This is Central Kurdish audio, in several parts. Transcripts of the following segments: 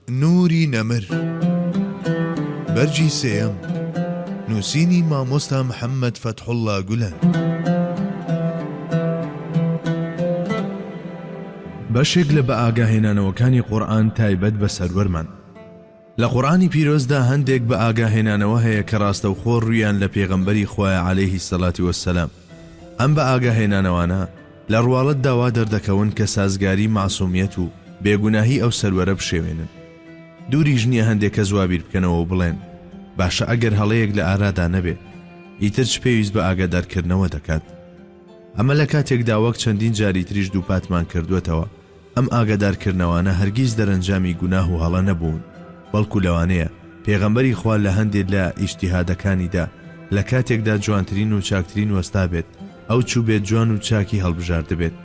نوری نەمر، بەرگی سێیەم، نووسینی مامۆستا محەممەد فەتحوڵڵا گولەن. بەشێک لە بەئاگاهێنانەوەکانی قورئان تایبەت بە سەروەرمان. لە قورئانی پیرۆزدا هەندێک بەئاگاهێنانەوە هەیە کە ڕاستەوخۆ ڕوویان لە پێغەمبەری خوایە عەلەیهی سەڵاتی وەسەلام. ئەم بە ئاگا هێنانەوانە لە ڕواڵەتدا وا دەردەکەون کە سازگاری مەعسومیەت و بێ گوناهی ئەو سەروەرە بشێوێنن. دووریش نیە هەندێ کەس وا بیر بکەنەوە و بڵێن، باشە ئەگەر هەڵەیەک لە ئارادا نەبێ، ئیتر چ پێویست بە ئاگادار کردنەوە دەکات؟ ئەمە لە کاتێکدا وەک چەندین جاری تریش دووپاتمان کردووەتەوە، ئەم ئاگادارکردنەوانە هەرگیز دەرەنجامی گوناه و هەڵە نەبوون، بەڵکو لەوانەیە پێغەمبەری خوا لە هەندێ لە ئیجتیهادەکانیدا لە کاتێکدا جوانترین و چاکترین وەستابێت ئەو چووبێت جوان و چاکی هەڵبژاردبێت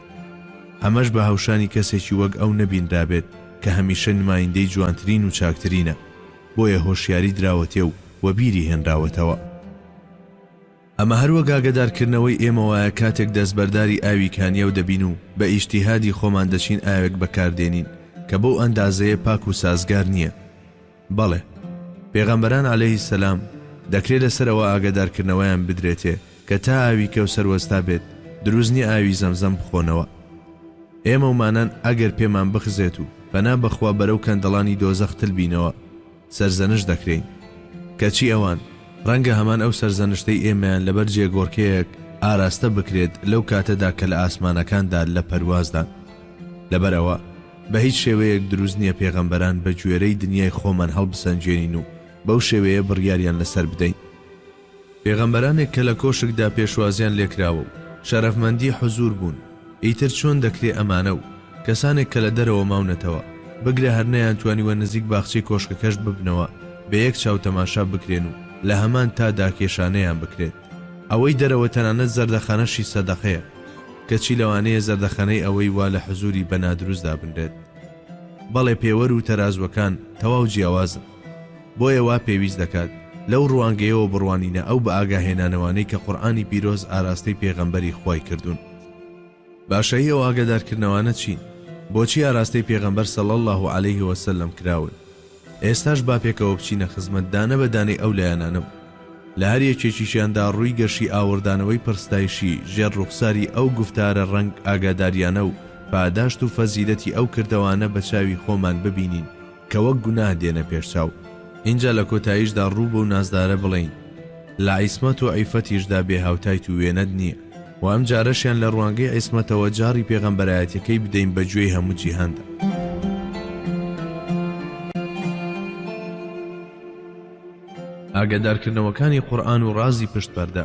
ئەمەش بە هەوشانی کەسێکی وەک ئەو نەبینرابێت کە هەمیشە نمایندەی جوانترین و چاکترینە بۆیە هۆشیاری دراوەتێ و وەبیری هێنراوەتەوە. ئەمە هەر وەک ئاگەدارکردنەوەی ئێمە وایە کاتێک دەستبەرداری ئاوی کانیاو دەبین و بە ئیجتیهادی خۆمان دەچین ئاوێک بەکاردێنین کە بەو ئەندازەیە پاک و سازگار نییە. بەڵێ، پێغەمبەران، عەلەیهی السلام، دەکرێ لەسەر ئەوە ئاگەدارکردنەوەیان بدرێتێ کە تا ئاوی کەوسەر وەستا بێت دروست نییە ئاوی زەمزەم بخۆنەوە. ئێمەومانان ئەگەر پێمان بخزێت و پەنا بەخوا بەرەو کەندەڵانی دۆزەخ تل بینەوە، سەرزەنشت دەکرێین. کەچی ئەوان، ڕەنگە هەمان ئەو سەرزەنشتەی ئێمەیان لەبەر جێگۆڕکێیەک ئاراستە بکرێت لەو کاتەدا کە لە ئاسمانەکاندا لە پەروازدان. لەبەر ئەوە، بە هیچ شێوەیەک دروست نییە پێغەمبەران بە گوێرەی دنیای خۆمان هەڵبسەنگێنین و بەو شێوەیە بڕیاریان لەسەر بدەین. پێغەمبەرانێک کە لە کۆشکدا پێشوازیان لێکراوە و شەرەفمەندی حزوور بوون، ئیتر چۆن دەکرێ ئەمانە و کەسانێک کە لە دەرەوە ماونەتەوە، بگرە هەر نەیانتوانیوە نزیک باخچەی کۆشکەکەشت ببنەوە، بە یەک چاو تەماشا بکرێن و لە هەمان تا دا کێشانەیان بکرێت؟ ئەوەی دەرەوە تەنانەت زەردەخانەشی سەدەقەیە، کەچی لەوانەیە زەردەخەنەی ئەوەی وا لە حزووری بە نادروست دابنرێت. بەڵێ پێوەر و تەرازووەکان تەواو جیاوازن. بۆیە وا پێویست دەکات لەو ڕوانگەیەوە بڕوانینە ئەو بەئاگاهێنانەوانەی کە قورئانی پیرۆز ئاراستەی پێغەمبەری خوای کردوون. باشە هی ئەو ئاگادارکردنەوانە چین؟ بۆچی ئاراستەی پێغەمبەر صلی اللە علیه وسلم کراون؟ ئێستاش با پێکەوە بچینە خزمەت دانە بە دانەی ئەو لایەنانە و لە هەر یەکێکیشیاندا ڕووی گەشی ئاوڕدانەوەی پڕستایشی ژێر ڕوخساری ئەو گوفتارە ڕەنگ ئاگاداریانە و پاداشت و فەزیلەتی ئەو کردەوانە بە چاوی خۆمان ببینین کە وەک گوناه دێنە پێشچاو، ئینجا لە کۆتاییشدا ڕوو بەو نازدارە بڵێین، لە عیسمەت و عیفەتیشدا بێ هاوتایت و وێنەت نییە، و ئەم جارەشیان لە ڕوانگەی عیسمەتەوە جاڕی پێغەمبەرایەتیەکەی بدەین بە گوێی هەموو جیهاندا. ئاگادارکردنەوەکانی قورئان و ڕازی پشت پەردە.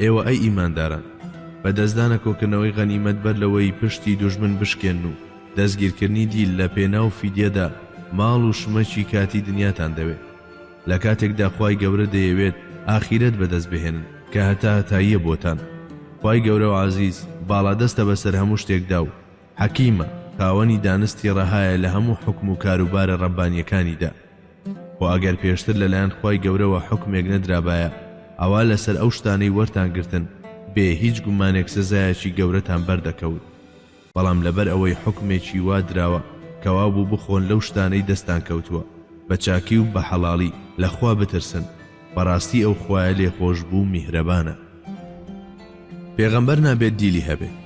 ئێوە ئەی ئیمانداران، بە دەستدانە کۆکردنەوەی غەنیمەت بەر لەوەی پشتی دوژمن بشکێنن و دەستگیرکردنی دیل لە پێناو فیدیەدا ماڵ و شمەکی کاتی دنیاتان دەوێت لە کاتێکدا خوای گەورە دەیەوێت ئاخیرەت بەدەست بهێنن کە هەتاهەتاییە بۆتان خوای گەورەو عەزیز باڵادەستە بەسەر هەموو شتێکدا و حەکیمە، خاوەنی دانستی ڕەهایە لە هەموو حوکم و کاروبارە ڕەببانیەکانیدا، خۆ ئەگەر پێشتر لەلایەن خوای گەورەوە حوکمێک نەدرابایە ئەوا لەسەر ئەو شتانەی وەرتان گرتن بێ هیچ گومانێک سزایەکی گەورەتان بەر دەکەوت، بەڵام لەبەر ئەوەی حوکمێکی وا دراوە کە وابوو بخۆن لەو شتانەی دەستان کەوتووە بە چاکی و بە حەڵاڵی لە خوا بترسن، بەڕاستی ئەو خوایە لێخۆشبوو میهرەبانە پێغەمبەر نابێت دیلی هەبێت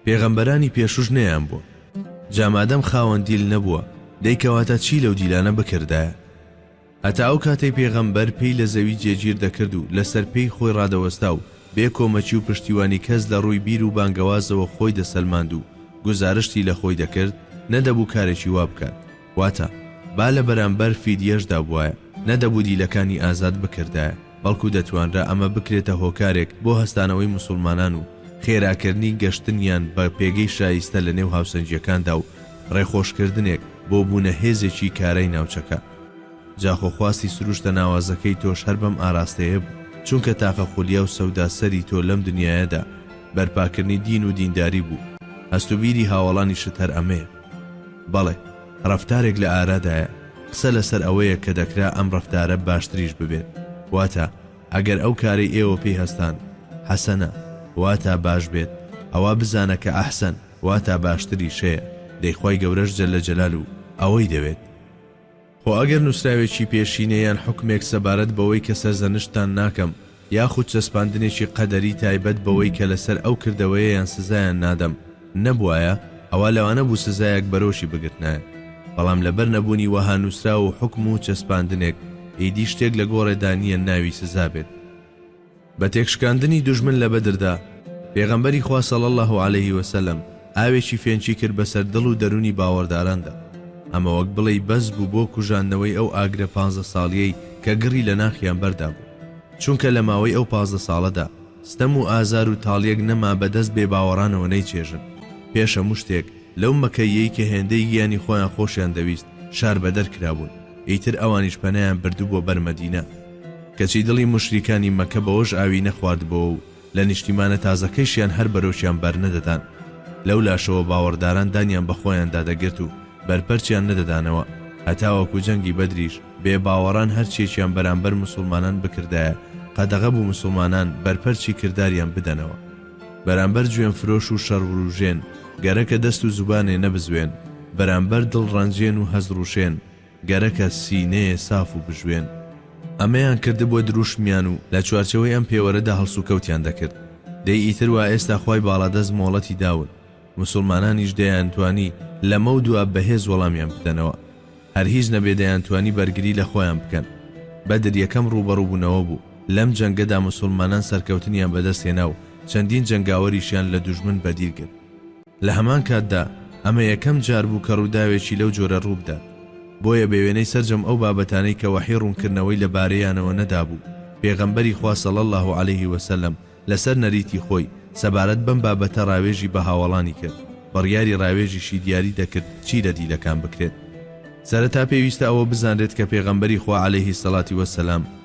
پێغەمبەرانی پێشوش نەیان بووە جامادەم خاوەن دیل نەبووە دەی کەواتە چی لەو دیلانە بکردایە هەتا ئەو کاتەی پێغەمبەر پێی لە زەوی جێگیر دەکرد و لەسەر پێی خۆی ڕادەوەستا و بێ کۆمەکی و پشتیوانی کەس لە ڕووی بیر و بانگەوازەوە خۆی دەسەلماند و گوزارشتی لە خۆی دەکرد نەدەبوو کارێکی وا بکات واتە، با لە بەرامبەر فیدیەشدا بوایە، نەدەبوو دیلەکانی ئازاد بکردایە، بەڵکو دەتوانرا ئەمە بکرێتە هۆکارێک بۆ هەستانەوەی موسوڵمانان و خێراکردنی گەشتنیان بە پێگەی شایستە لە نێو هاوسەنگیەکاندا و ڕێخۆشکردنێک بۆ بوونە هێزێکی کارای ناوچەکە. جا خۆ خواستی سروشتە ناوازەکەی تۆش هەر بەم ئاراستەیە بوو، چونکە تاقە خولیا و سەودا سەری تۆ لەم دنیایەدا بەرپاکردنی دین و دینداری بوو، هەست و بیری هاوەڵانیشت هەر ئەمەیە. بەڵێ ڕەفتارێک لە ئارادایە، قسە لەسەر ئەوەیە کە دەکرا ئەم ڕەفتارە باشتریش ببێت، واتا ئەگەر ئەو کارەی ئێوە پێی هەستان، حەسەنە، واتا باش بێت، ئەوا بزانە کە ئەحسەن، واتا باشتریش، هەیە، دەی خوای گەورەش جل جلالو ئەوەی دەوێت. خۆ ئەگەر نووسراوێکی پێشینە یان حوکمێک سەبارەت بەوەی کە سەرزەنشتتان ناکەم، یاخود چەسپاندنێکی قەدەری تایبەت بەوەی کە لەسەر ئەو کردەوەیەیان سزایان نادەم، نەبوایە، ئەوا لەوانە بوو سزایەک بەرۆکی بگرتنایە. بەڵام لەبەر نەبوونی وەها نووسراو و حوکم و چەسپاندنێک، ئیدی شتێک لە گۆڕێدا نییە ناوی سزا بێت. بە تێکشکاندنی دوژمن لە بەدردا، پێغەمبەری خوا صلی اللە علیه وسلم ئاوێکی فێنکی کرد بەسەر دڵ و دەروونی باوەڕداراندا، ئەمە وەک بڵێی بەس بوو بۆ کوژاندنەوەی ئەو ئاگرە پانزە ساڵیەی کە گڕی لە ناخیان بەردابوو، چونکە لە ماوەی ئەو پازدە ساڵەدا ستەم و ئازار و تاڵیەک نەما بە دەست بێباوەڕانەوە نەیچێژن، پێش هەموو شتێک لەو مەکەییەی کە هێندەی گیانی خۆیان خۆشیان دەویست شاربەدەر کرابوون، ئیتر ئەوانیش پەنایان بردبووە بەر مەدینە. کەچی دڵی موشریکانی مەکە بەوەش ئاوی نەخواردبۆوە و لە نیشتیمانە تازەکەیشیان هەر بەرۆکیان بەرنەدەدان، لەولاشەوە باوەڕداران دانیان بە خۆیاندا دەگرت و بەرپەرچیان نەدەدانەوە، هەتاوەکو جەنگی بەدریش بێ باوەڕان هەرچیەکیان بەرامبەر موسوڵمانان بکردایە قەدەغە بوو موسوڵمانان بەرپەرچی کرداریان بدەنەوە بەرامبەر جوێن فرۆش و شەڕوروژێن، گەرەکە دەست و زوبانێ نەبزوێن بەرامبەر دڵڕەنجێن و هەست ڕوشێن، گەرەکە سینەیێ ساف و بژوێن. ئەمەیان کردبووە درووشمیان و لە چوارچێوەی ئەم پێوەرەدا هەڵسوکەوتیان دەکرد. دەی ئیتر وا ئێستا خوای باڵادەست مۆڵەتی داون، موسوڵمانانیش دەیانتوانی لەمەو دوا بەهێز وەڵامیان بدەنەوە. هەر هیچ نەبێ دەیانتوانی بەرگری لە خۆیان بکەن. بەدر یەکەم ڕووبەڕووبوونەوە بوو. لەم جەنگەدا موسوڵمانان سەرکەوتنیان بەدەست هێنا و چەندین جەنگاوەریشیان لە دوژمن بەدیل گرت. لە هەمان کاتدا ئەمە یەکەم جار بوو کە ڕووداوێکی لەو جۆرە ڕووبدات، بۆیە بە وێنەی سەرجەم ئەو بابەتانەی کە وەحی ڕوونکردنەوەی لە بارەیانەوە نەدابوو، پێغەمبەری خوا صلی اللە علیه وسلم لەسەر نەریتی خۆی سەبارەت بەم بابەتە ڕاوێژی بە هاوەڵانی کرد، بڕیاری ڕاوێژیشی دیاری دەکرد چی لە دیلەکان بکرێت. سەرەتا پێویستە ئەوە بزانرێت کە پێغەمبەری خوا علیه الصلوة والسلام،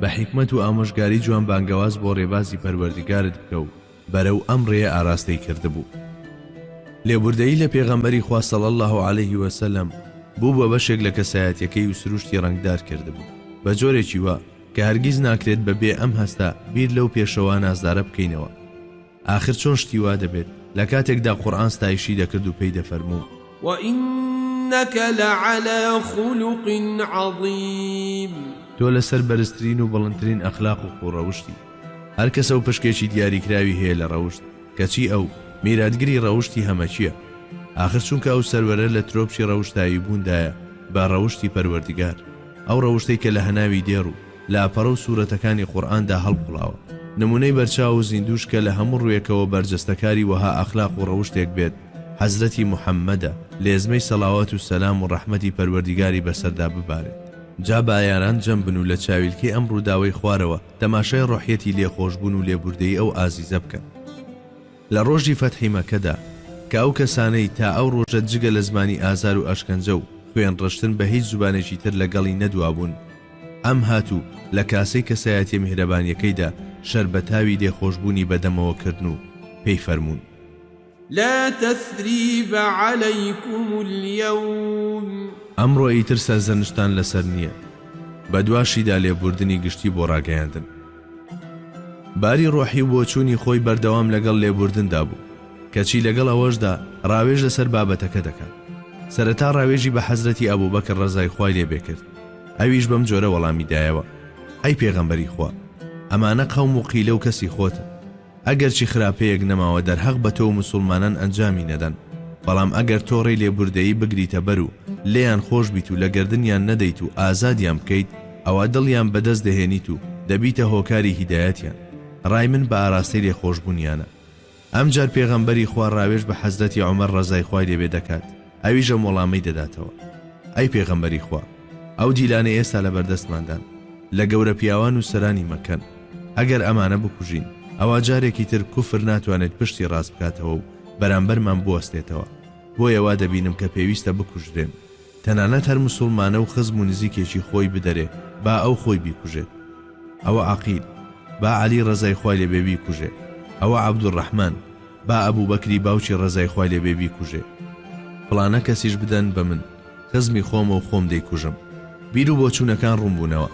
بە حیکمەت و ئامۆژگاری جوان بانگەواز بۆ ڕێبازی پەروەردگارت بکە و بەرەو ئەم ڕێیە ئاراستەی کردبوو. لێبوردەیی لە پێغەمبەری خوا صلی اللە علیه و سلم بووبوە بەشێک لە کەسایەتیەکەی و سروشتی ڕەنگدار کردبوو بە جۆرێکی وا کە هەرگیز ناکرێت بە بێ ئەم هەستە بیر لەو پێشەوا نازدارە بکەینەوە. ئاخر چۆن شتی وا دەبێت لە کاتێکدا قورئان ستایشی دەکرد و پێی دەفەرموو. وانک لعلی خلق عظیم. تۆ لەسەر بەرزترین و بڵندترین ئەخلاق و خووڕەوشتی. هەر کەسە و پشکێکی دیاریکراوی هەیە لە ڕەوشت، کەچی ئەو، میراتگری ڕەوشتی هەمەکییە. ئاخر چونکە ئەو سەروەرە لە ترۆپکی ڕەوشتایی بووندایە بە ڕەوشتی پەروەردگار، ئەو ڕەوشتەی کە لە هەناوی دێڕ و. لاپەڕە و سورەتەکانی قورئاندا هەڵقوڵاوە. نمونەی بەرچاو و زیندووش کە لە هەموو ڕوویەکەوە بەرجەستە کاری وەها ئەخلاق و ڕەوشتێک بێت حەزرەتی محمدە، لێزمەی سەڵاوات و سەلام و ڕەحمەتی پەروەردیگاری بەسەردا ببارێت. جا با یاران جەم بن و لە چاویلکەی ئەم ڕووداوەی خوارەوە تەماشای ڕۆحیەتی لێخۆشبوون و لێبووردەیی ئەو ئازیزە بکەن. لە ڕۆژی فەتحی مەکەدا کە ئەو کەسانەی تا ئەو ڕۆژە جگە لە زمانی ئازار و ئەشکەنجە و خوێن ڕشتن بە هیچ زبانێکی تر لە گەڵی نەدوابوون، ئەم هات و لە کاسەی کەسایەتیە میهرەبانیەکەیدا شەربەتاوی لێخۆشبوونی بە دەمەوە کردن و پێی فەرموون. لا تثریب علیکم الیوم. ئەمڕۆ ئیتر سەرزەنشتتان لەسەر نییە. بەدواشیدا لێبووردنی گشتی بۆ ڕاگەیاندن. باری ڕۆحی و بۆچوونی خۆی بەردەوام لەگەڵ لێبووردندا بوو، کەچی لەگەڵ ئەوەشدا ڕاوێژ لەسەر بابەتەکە دەکات. سەرەتا ڕاوێژی بە حەزرەتی ئەبووبەکر ڕەزای خوای لێ بێ کرد، ئەویش بەم جۆرە وەڵامی دایەوە، ئەی پێغەمبەری خوا! ئەمانە قەوم و قیلە و کەسی خۆتن. ئەگەرچی خراپەیەک نەماوە دەرهەق بە تۆو مسوڵمانان ئەنجامی نەدەن، بەڵام ئەگەر تۆ ڕێی لێبوردەیی بگریتە بەر و لێیان خۆش بیت و لە گەردنیان نەدەیت و ئازادیان بکەیت ئەوا دڵیان بە دەست دەهێنیت و دەبیتە هۆکاری هیدایەتیان ڕای من بە ئاراستەی لێخۆشبونیانە ئەمجار پێغەمبەری خوا ڕاوێژ بە حەزرەتی عومەر ڕەزای خوای لێبێ دەکات ئەویش ئەم وەڵامەی دەداتەوە، ئەی پێغەمبەری خوا، ئەو دیلانەی ئێستا لەبەردەستماندان، لە گەورە پیاوان و سەرانی مەککەن، ئەگەر ئەمانە بکوژین، ئەوا جارێکی تر کوفر ناتوانێت پشتی ڕاست بکاتەوە و بەرامبەرمان بوەستێتەوە، بۆیە وا دەبینم کە پێویستە بکوژرێن. تەنانەت هەر موسوڵمانە و خزم و نزیکێکی خۆی بدەرێ با ئەو خۆی بیکوژێت، ئەوە عەقیل، با عەلی ڕەزای خوای لێ بێ بیکوژێ، ئەوە عەبدولڕەحمان، با ئەبوبەکری باوکی ڕەزای خوای لێ بێ بیکوژێ فڵانە کەسیش بدەن بە من خزمی خۆمە و خۆم دەیکوژم. بیر و بۆچوونەکان ڕوون بوونەوە.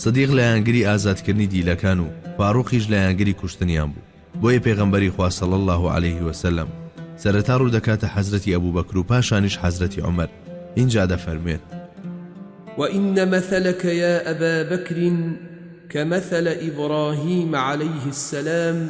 سدیق لایەنگری ئازاد کردنی دیلەکان و فاروقیش لایەنگری کوشتنیان بوو. بۆیە پێغەمبەری خوا صلی اللە علیە و سلم سەرەتا ڕوو دەکاتە حەزرەتی ئەبوبەکر و پاشانیش حەزرەتی عومەر ئینجا دەفەرموێت. وان مثلک یا ابا بکر کمثل ابراهیم علیه السلام،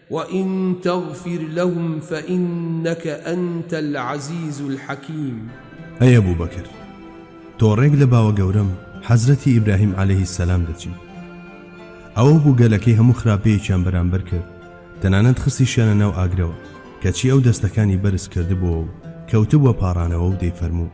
وان تغفر لهم فانک انت العزیز الحکیم. ئەی ئەبو بەکر تۆ ڕێک لە باوە گەورەم حەزرەتی ئیبراهیم عەلەیه السلام دەچیت ئەوە بوو گەلەکەی هەموو خراپەیەکیان بەرامبەر کرد تەنانەت خستیشیانە ناو ئاگرەوە کەچی ئەو دەستەکانی بەرز کردبووەو کەوتبووە پاڕانەوەو دەیفەرموو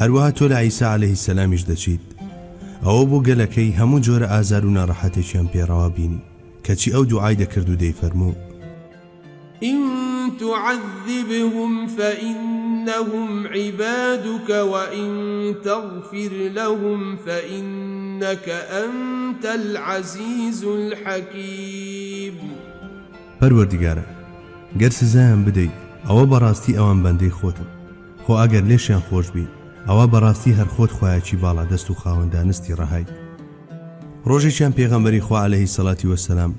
هەروەها تۆ لە عیسا عەلەیه سەلامیش دەچیت ئەوە بۆ گەلەکەی هەموو جۆرە ئازارو ناڕەحەتێکیان پێ ڕەوا بینی کەچی ئەو دوعای دەکرد و دەیفەرموو. ان تعذبهم فانهم عبادک وان تغفر لهم فانک انت العزیز الحکیم. پەروەردگارا گەر سزایان بدەیت ئەوە بەڕاستی ئەوان بەندەی خۆتن، خۆ ئەگەر لێشیان خۆش بی ئەوا بەڕاستی هەر خۆت خوایەکی باڵا دەست و خاوەن دانستی ڕەهای. ڕۆژێکیان پێغەمبەری خوا عەلەیهی سەلاتی وەسەلام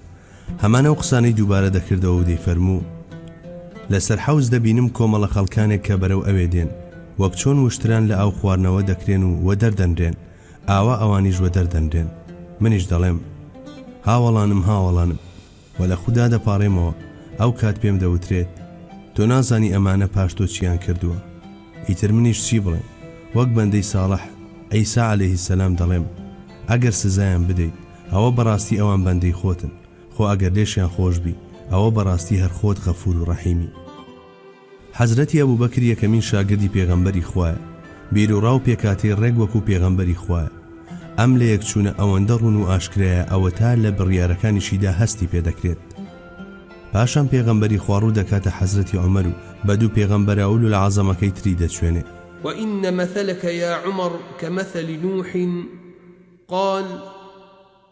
هەمان ئەو قسانەی دووبارە دەکردەوە و دەیفەرموو، لەسەر حەوز دەبینم کۆمەڵە خەڵکانێک کە بەرەو ئەوێ دێن، وەک چۆن وشتران لە ئاو خواردنەوە دەکرێن و وەدەر دەنرێن، ئاوا ئەوانیش وەدەر دەنرێن. منیش دەڵێم، هاوەڵانم هاوەڵانم! وە لە خودا دەپاڕێمەوە ئەو کات پێم دەوترێت تۆ نازانی ئەمانە پاش تۆ چیان کردووە ئیتر منیش چی بڵێم وەک بەندەی ساڵح عیسا علیە السلام دەڵێم ئەگەر سزایان بدەیت ئەوە بەڕاستی ئەوان بەندەی خۆتن خۆ ئەگەر لێشیان خۆش بی ئەوە بەڕاستی هەر خۆت غەفور و ڕەحیمی. حەزرەتی ئەبوبەکر یەکەمین شاگردی پێغەمبەری خوایە، بیروڕا و پێکهاتەی ڕێک وەکو پێغەمبەری خوایە. ئەم لەیەکچوونە ئەوەندە ڕوون و ئاشکرایە ئەوەتا لە بڕیارەکانیشیدا هەستی پێدەکرێت. پاشان پێغەمبەری خوا ڕوو دەکاتە حەزرەتی عومەر و بە دوو پێغەمبەرە ئولو العظەمەکەی تری دەچوێنێ. وان مثلک یا عمر کمثل نوح قال.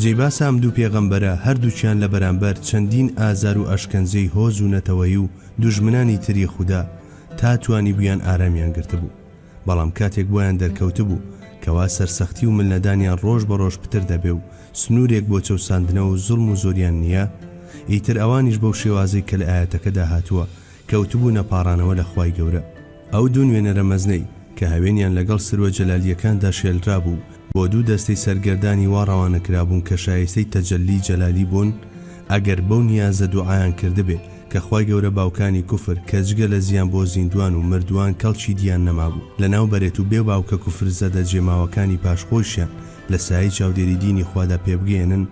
جێی باسە ئەم دوو پێغەمبەرە هەردووکیان لە بەرامبەر چەندین ئازار و ئەشکەنجەی هۆز و نەتەوەیی و دوژمنانی تری خودا تا توانیبوویان ئارامیان گرتبوو بەڵام کاتێک بۆیان دەرکەوتبوو کەوا سەرسەختی و ملنەدانیان ڕۆژ بە ڕۆژ پتر دەبێ و سنوورێک بۆ چەوساندنەوە و زوڵم و زۆریان نییە ئیتر ئەوانیش بەو شێوازەی کە لە ئایەتەکەدا هاتووە کەوتبوونە پاڕانەوە لە خوای گەورە. ئەو دوو نوێنەرە مەزنەی کە هەوێنیان لەگەڵ سروە جەلالییەکاندا شێلرابوو، بۆ دوو دەستەی سەرگەردانی وا ڕەوانە کرابوون کە شایستەی تەجەللی جەلالی بوون، ئەگەر بەو نیازە دوعایان کردبێ کە خوای گەورە باوکانی کوفر کە جگە لە زیان بۆ زیندوان و مردووان کەڵکی دیان نەمابوو لەناو بەرێت و بێ باوکە کوفرزەدە جێماوەکانی پاش خۆیشیان لە سایەی چاودێری دینی خوادا پێبگەیەنن،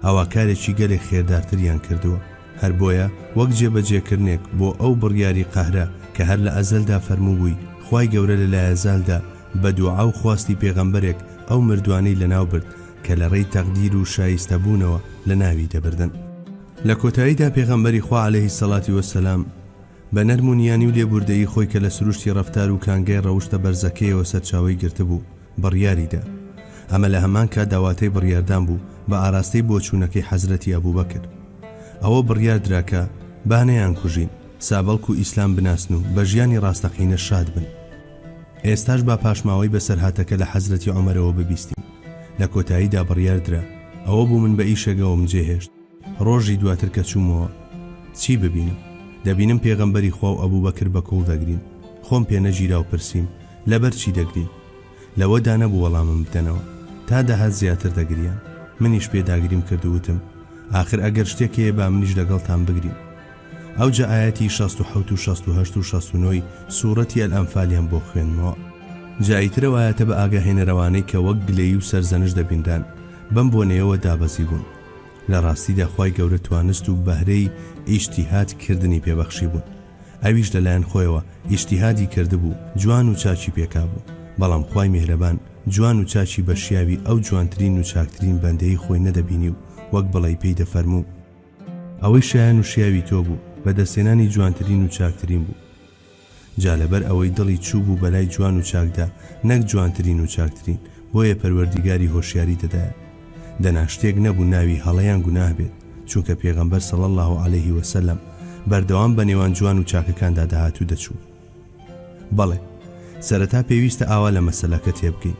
ئەوا کارێکی گەلێک خێردارتریان کردووە، هەر بۆیە وەک جێبەجێکردنێک بۆ ئەو بڕیاری قەهرە کە هەر لە ئەزەلدا فەرمووبووی خوای گەورە لە لایەزالدا بە دوعا و خواستی پێغەمبەرێک ئەو مردوانەی لەناوبرد کە لە ڕێی تەقدیر و شایستەبوونەوە لەناوی دەبردن. لە کۆتاییدا پێغەمبەری خوا عەلەیهی سەڵاتی وەسەلام بە نەرم و نیانی و لێبووردەیی خۆی کە لە سروشتی ڕەفتار و کانگای ڕەوشتە بەرزەکەیەوە سەرچاوەی گرتبوو، بڕیاری دا. ئەمە لە هەمان کاتدا واتای بڕیاردان بوو بە ئاراستەی بۆچوونەکەی حەزرەتی ئەبوبەکر. ئەوە بڕیار درا کە، با نەیانکوژین، سا بەڵکو ئیسلام بناسن و بە ژیانی ڕاستەقینە شاد بن. ئێستاش با پاشماوەی بەسەرهاتەکە لە حەزرەتی عومەرەوە ببیستین. لە کۆتاییدا بڕیار درا. ئەوە بوو من بە ئیشێگەوەم جێهێشت. ڕۆژی دواتر کە چوومەوە چی ببینم؟ دەبینم پێغەمبەری خوا و ئەبوبەکر بە کوڵ دەگرین، خۆم پێ نەگیرا و پرسیم، لەبەر چی دەگرین؟ لەوەدا نەبوو وەڵامم بدەنەوە، تا دەهات زیاتر دەگریان، منیش پێداگریم کرد و وتم، ئاخر ئەگەر شتێک هەیە با منیش لەگەڵتان بگریم. ئەوجا ئایەتی شەست و حەوت و شەست و هەشت و شەست و نۆی سوڕەتی ئەلئەنفالیان بۆ خوێندمەوە. جا ئیتر ئەو ئایەتە بە ئاگاهێنەرەوانەی کە وەک گلەیی و سەرزەنشت دەبینران، بەم بۆنەیەوە دابەزیبوون. لە ڕاستیدا خوای گەورە توانست و بەهرەی ئیجتیهاد کردنی پێ بەخشیبوون ئەویش لە لایەن خۆیەوە ئیجتیهادی کردبوو جوان و چاکی پێکابوو بەڵام خوای میهرەبان جوان و چاکی بە شیاوی ئەو جوانترین و چاکترین بەندەی خۆی نەدەبینی و وەک بڵێی پێی دەفەرموو ئەوەی شایەن و شیاوی تۆ بوو بەدەستهێنانی جوانترین و چاکترین بوو. جا لەبەر ئەوەی دڵی چووبوو بەلای جوان و چاکدا نەک جوانترین و چاکترین بۆیە پەروەردیگاری هۆشیاری دەدایە دەنا شتێک نەبوو ناوی هەڵە یان گوناه بێت چونکە پێغەمبەر صلی اللە علیە وسلم بەردەوام بەنێوان جوان و چاکەکاندا دەهات و دەچوو بەڵێ سەرەتا پێویستە ئاوا لە مەسەلەکە تێبگەین.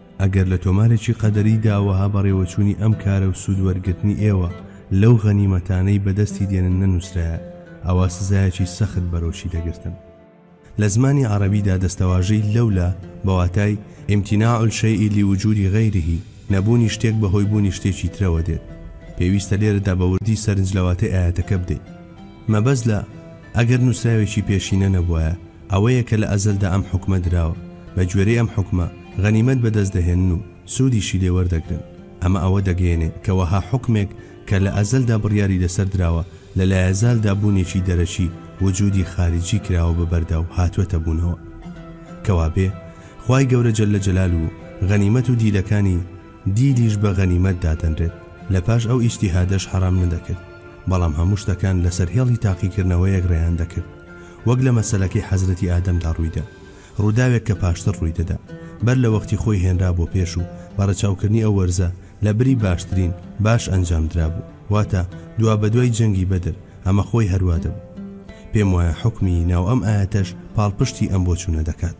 ئەگەر لە تۆمارێکی قەدەریدا وەها بەڕێوەچوونی ئەم کارە و سوود وەرگرتنی ئێوە لەو غەنیمەتانەی بەدەستی دێنن نەنووسرایە، ئەوا سزایەکی سەخت بەرۆکی دەگرتن. لە زمانی عەڕەبیدا دەستەواژەی، لولا، بە واتای، امتناع الشیء لوجود غیره، نەبوونی شتێک بە هۆی بوونی شتێکی ترەوە دێت. پێویستە لێرەدا بە وردی سەرنج لە واتەی ئایەتەکە بدەین. مەبەست لە، ئەگەر نووسراوێکی پێشینە نەبوایە، ئەوەیە کە لە ئەزەلدا ئەم حوکمە دراوە، بە گوێرەی ئەم حوکمە غەنیمەت بە دەست دەهێنن و سوودیشی لێ وەردەگرن. ئەمە ئەوە دەگەیەنێ کە وەها حوکمێک کە لە ئەزەلدا بڕیاری لەسەر دراوە، لە لایەزالدا بوونێکی دەرەکی، وجودی خارجی، کراوە بە بەردا و هاتووەتە بوونەوە. کەوا بێ، خوای گەورە جل جلاله غەنیمەت و دیلەکانی دیلیش بە غەنیمەت دادەنرێت، لە پاش ئەو ئیجتیهادەش حەرام نەدەکرد، بەڵام هەموو شتەکان لەسەر هێڵی تاقیکردنەوەیەک ڕێیان دەکرد. وەک لە مەسەلەکەی حەزرەتی ئادەمدا ڕوویدا، ڕووداوێک کە پاشتر ڕوویدەدا، بەر لە وەختی خۆی هێنرا بۆ پێش و بە ڕەچاوکردنی ئەو وەرزە لە بری باشترین، باش ئەنجام درابوو، واتە، دوابەدوای جەنگی بەدر، ئەمە خۆی هەروا دەبوو. پێموایە حوکمی ناو ئەم ئایەتەش پاڵپشتی ئەم بۆچوونە دەکات.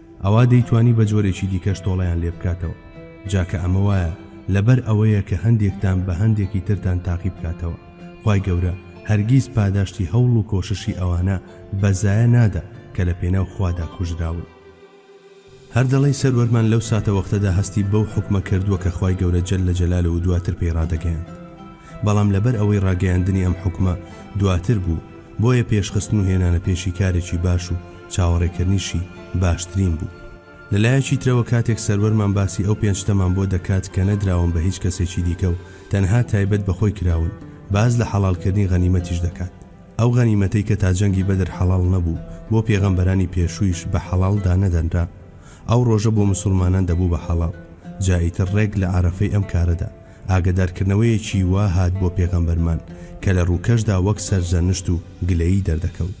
ئەوا دەیتوانی بە جۆرێکی دیکەش تۆڵەیان لێ بکاتەوە، جا کە ئەمە وایە لەبەر ئەوەیە کە هەندێکتان بە هەندێکی ترتان تاقی بکاتەوە، خوای گەورە هەرگیز پاداشتی هەوڵ و کۆششی ئەوانە بە زایە نادا کە لە پێناو خوادا کوژراون. هەر دەڵێی سەروەرمان لەو ساتەوەختەدا هەستی بەو حوکمە کردووە کە خوای گەورە جل جلاله و دواتر پێی ڕادەگەیاند، بەڵام لەبەر ئەوەی ڕاگەیاندنی ئەم حوکمە دواتر بوو بۆیە پێشخستن و هێنانە پێشی کارێکی باش و چاوەڕێکردنیشی باشترین بوو. لە لایەکی ترەوە کاتێک سەروەرمان باسی ئەو پێنج شتەمان بۆ دەکات کە نەدراون بە هیچ کەسێکی دیکە و تەنها تایبەت بە خۆی کراون، باس لە حەڵالکردنی غەنیمەتیش دەکات. ئەو غەنیمەتەی کە تا جەنگی بەدر حەڵال نەبوو، بۆ پێغەمبەرانی پێشوویش بە حەڵال دانەدەنرا. ئەو ڕۆژە بۆ مسوڵمانان دەبوو بە حەڵال. جا ئیتر ڕێک لە عەرەفەی ئەم کارەدا، ئاگەدارکردنەوەیەکی وا هات بۆ پێغەمبەرمان کە لە ڕووکەشدا وەک سەرزەنشت و گلەیی دەردەکەوت.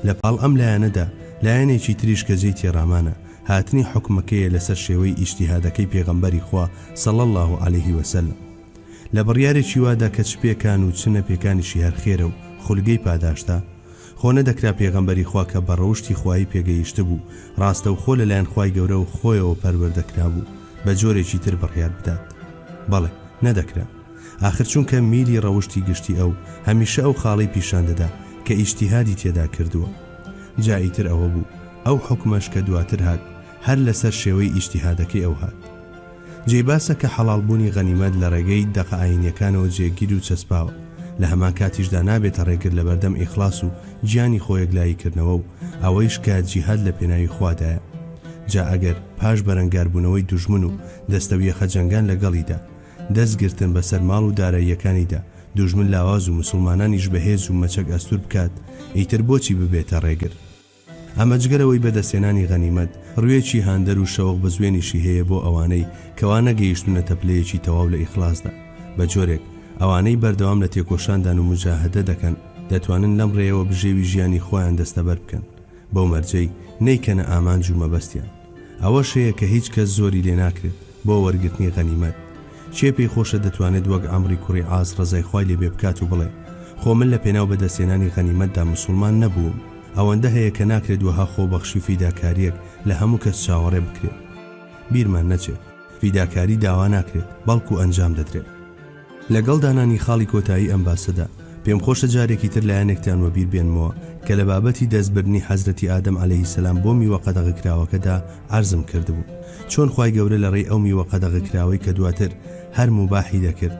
لە پاڵ ئەم لایەنەدا، لایەنێکی تریش کە جێی تێڕامانە، هاتنی حوکمەکەیە لەسەر شێوەی ئیجتیهادەکەی پێغەمبەری خوا صلی اللە علیه و سلم لە بڕیارێکی وادا کە چ پێکان و چ نەپێکانیشی هەر خێرە و خولگەی پاداشتە، خۆ نەدەکرا پێغەمبەری خوا کە بە ڕەوشتی خوایی پێگەیشتبوو، ڕاستەوخۆ لەلایەن خوای گەورە و خۆیەوە پەروەردە کرابوو، بە جۆرێکی تر بڕیار بدات؟ بەڵێ، نەدەکرا. ئاخر چونکە میلی ڕەوشتی گشتی ئەو، هەمیشە ئەو خاڵەی پیشان دەدا کە ئیجتیهادی تێدا کردووە. جا ئیتر ئەوە بوو، ئەو حوکمەش کە دواتر هات، هەر لەسەر شێوەی ئیجتیهادەکەی ئەو هات. جێی باسە کە حەڵاڵ بوونی غەنیمەت لە ڕێگەی دەقە ئایینیەکانەوە جێگیر و چەسپاوە، لە هەمان کاتیشدا نابێتە ڕێگر لە بەردەم ئیخڵاس و گیانی خۆ یەکلایی کردنەوە و ئەوەیش کە جیهاد لە پێناوی خوادایە. جا ئەگەر پاش بەرەنگار بوونەوەی دوژمن و دەستەویەخە جەنگان لە گەڵیدا، دەست گرتن بە سەر ماڵ و داراییەکانیدا، دوژمن لاواز و مسوڵمانانیش بە هێز و مەچەک ئەستوور بکات، ئیتر بۆچی ببێتە ڕێگر؟ ئەمە جگە لەوەی بەدەستهێنانی غەنیمەت ڕوێکی هاندەر و شەوق بزوێنیشی هەیە بۆ ئەوانەی کەوا نەگەیشتوونەتە پلەیەکی تەواو لە ئیخلاسدا، بەجۆرێک ئەوانەی بەردەوام لە تێکۆشاندان و موجاهەدە دەکەن دەتوانن لەم ڕێیەوە بژێوی ژیانی خۆیان دەستەبەر بکەن بەو مەرجەی نەیکەنە ئامانج و مەبەستیان ئەوەش هەیە کە هیچ کەس زۆری لێناکرێت بۆ وەرگرتنی غەنیمەت. کێ پێی خۆشە دەتوانێت وەک عەمری کوڕی عاس ڕەزای خوای لێ بێ بکات و بڵێ، خۆ من لە پێناو بەدەستهێنانی غەنیمەتدا موسوڵمان نەبووم. ئەوەندە هەیە کە ناکرێت وەها خۆبەخشی و فیداکارییەک لە هەموو کەس چاوەڕێ بکرێت. بیرمان نەچێت فیداکاری داوا ناکرێت، بەڵکو ئەنجام دەدرێت. لەگەڵ دانانی خاڵی کۆتایی ئەم باسەدا، پێم خۆشە جارێکی تر لایەنێکتان وەبیر بێنمەوە کە لە بابەتی دەست بردنی حەزرەتی ئادەم عەلەیهی سەلام بۆ میوە قەدەغە کراوەکەدا عەرزم کردبوو چۆن خوای گەورە لە ڕێی ئەو میوە قەدەغە کراوەی کە دواتر هەر موباحی دەکرد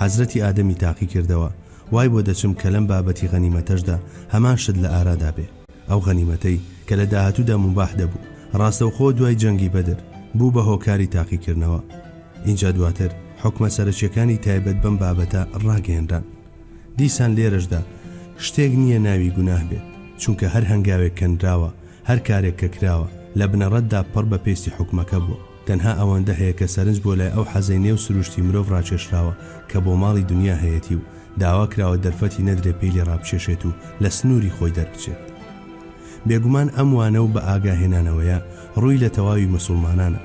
حەزرەتی ئادەمی تاقی کردەوە وای بۆ دەچم کە لەم بابەتی غەنیمەتەشدا هەمان شت لە ئارادا بێ. ئەو غەنیمەتەی کە لە داهاتوودا موباح دەبوو، ڕاستەوخۆ دوای جەنگی بەدر بوو بە هۆکاری تاقیکردنەوە. ئینجا دواتر حوکمە سەرەکیەکانی تایبەت بەم بابەتە ڕاگەیەنران. دیسان لێرەشدا شتێک نییە ناوی گوناه بێت، چونکە هەر هەنگاوێک کە نراوە، هەر کارێک کە کراوە، لە بنەڕەتدا پڕ بە پێستی حوکمەکە بووە. تەنها ئەوەندە هەیە کە سەرنج بۆ لای ئەو حەزەی نێو سروشتی مرۆڤ ڕاکێشراوە کە بۆ ماڵی دونیا هەیەتی و داوا کراوە دەرفەتی نەدرێ پێی لێ ڕابکێشێت و لە سنووری خۆی دەربچێت. بێگومان ئەم وانە و بە ئاگا هێنانەوەیە ڕووی لە تەواوی مسوڵمانانە.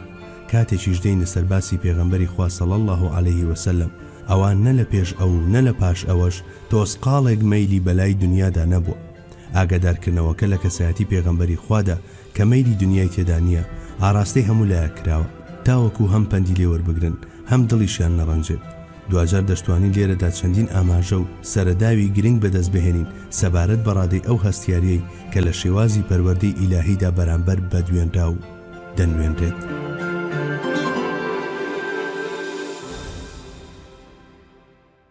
کاتێکیش دێینە سەر باسی پێغەمبەری خوا صلی اللە علیه و سلم ئەوا نە لە پێش ئەو و نە لە پاش ئەوەش تۆزقاڵێک مەیلی بە لای دونیادا نەبووە. ئاگادارکردنەوەکە لە کەسایەتی پێغەمبەری خوادا کە مەیلی دنیای تێدا نییە ئاراستەی هەموو لایەک کراوە تاوەکو هەم پەندی لێ وەربگرن هەم دڵیشیان نەڕەنجێت دواجار دەشتوانین لێرەدا چەندین ئاماژە و سەرەداوی گرنگ بەدەست بهێنین سەبارەت بە ڕادەی ئەو هەستیاریەی کە لە شێوازی پەروەردەی ئیلاهیدا بەرامبەر بە دوێنراو دەنوێنرێت.